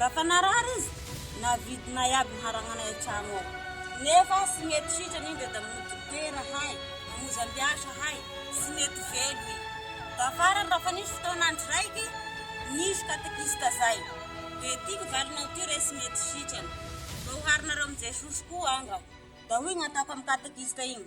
Raha fa narary izy, navidinay iaby ny haranganay an-trano ao. Nefa tsy mety sitrana indry da mody dokotera hay, mamozam-biasa hay, tsy mety velo i. Tafarany raha fa nisy fotoan'andro raiky, nisy katekista zay. Dia ty ny valinao ty re tsy mety sitrana. Mba oharinareo amin'i Jesosy koa anga. Da hoy ny ataoko amin'ny katekista igny.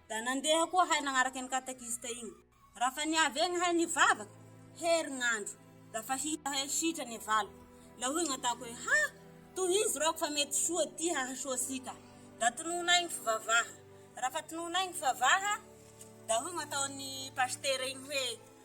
Da nandeha koa hay nagnaraka an'i katekista igny. Raha fa niavy egny hay nivavaka, herignandro, da fa hita hay sitrany e valiko. La hoy gn'atako hoe, ha! tohizo raho fa mety soa ty hahasoa sika. Da tononay gny fivavaha. Raha fa tononay gny fivavaha, da hoy gn'ataon'i pasitera igny hoe,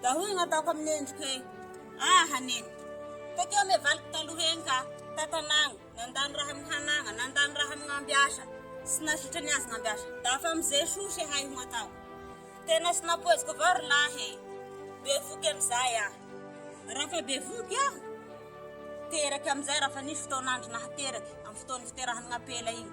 Dia hoy ny ataoko amin'ny endriko hoe, Ah, haneno! Tety amin'ny valiko taloha eny ka, tantanàgna, nandany raha amin'ny hanàgna, nandany raha amin'ny ambiasa, sy nazotra ny azon'ny ambiasa. Dia afa amin'izay soa sy hay ho atao. Tena tsy nampoiziko avao ry lahy e! Bevoky amin'izay aho. Raha efa bevoky aho, teraka amin'izay raha efa nisy fotoan'andro nahateraka, amin'ny fotoan'ny fiterahan'ny ampela iny.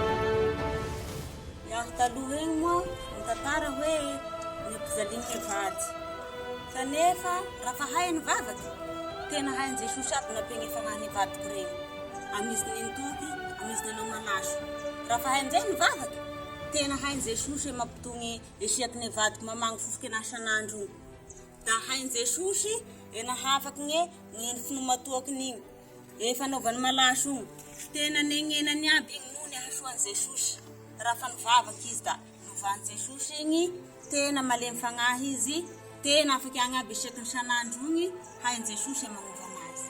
Niaro taloha eny moa ny tantara hoe nopijaliny ny vady. Kanefa raha mpahay ny vavaka, tena hain'i Jesosy aby nampiany fa raha ny vadiko reny, amin'izy nenitoky, amin'izy nanao manasy. Raha mpahay amin'izay ny vavaka, tena hain'i Jesosy hoe mampitony esiaky ny vadiko mamangy fofoka ena isan'andro io. Da hain'i Jesosy ena hafaka ny finoa matoakiny iny. Eh fanaovany malaso io tena nengenany aby igny no nihasoany jesosy raha fa nivavaka izy da novany jesosy igny tena malemy fagnahy izy tena afaky agny aby isaky ny sanandro igny hainy jesosy magnova anazy.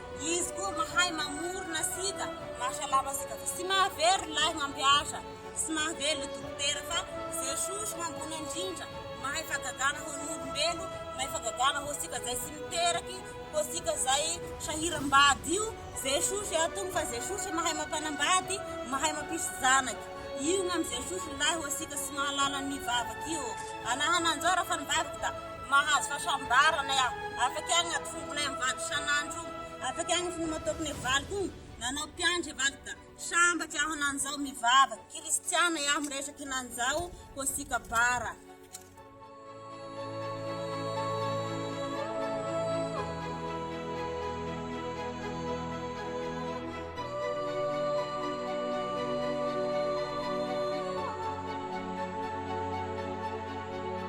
Izy koa mahay mamorona sida mahasalama sida fa tsy mahavery ny lahy mampiasa tsy mahavery le dokotera fa Jesosy no ambony indrindra mahay fagagana ho an'ny olombelo mahay fagagana ho antsika zay tsy miteraky ho antsika zay sahiram-bady io Jesosy atony fa Jesosy mahay mampanambady mahay mampisy zanaky io ny amin'i Jesosy ny lahy ho antsika tsy mahalala ny vavak'io ô anahana anjara fa ny vavaka Mahazo fahasambarana aho. Afaka ihany ny atombokinay amin'ny valo isan'andro. Afaka ihany ny finoana ataoko ny valiko iny. Nanao mpiandry i valiko ka sambatra aho nanzao mivavaka. Kristiana aho miresaka i Nanzao Kostika Bara.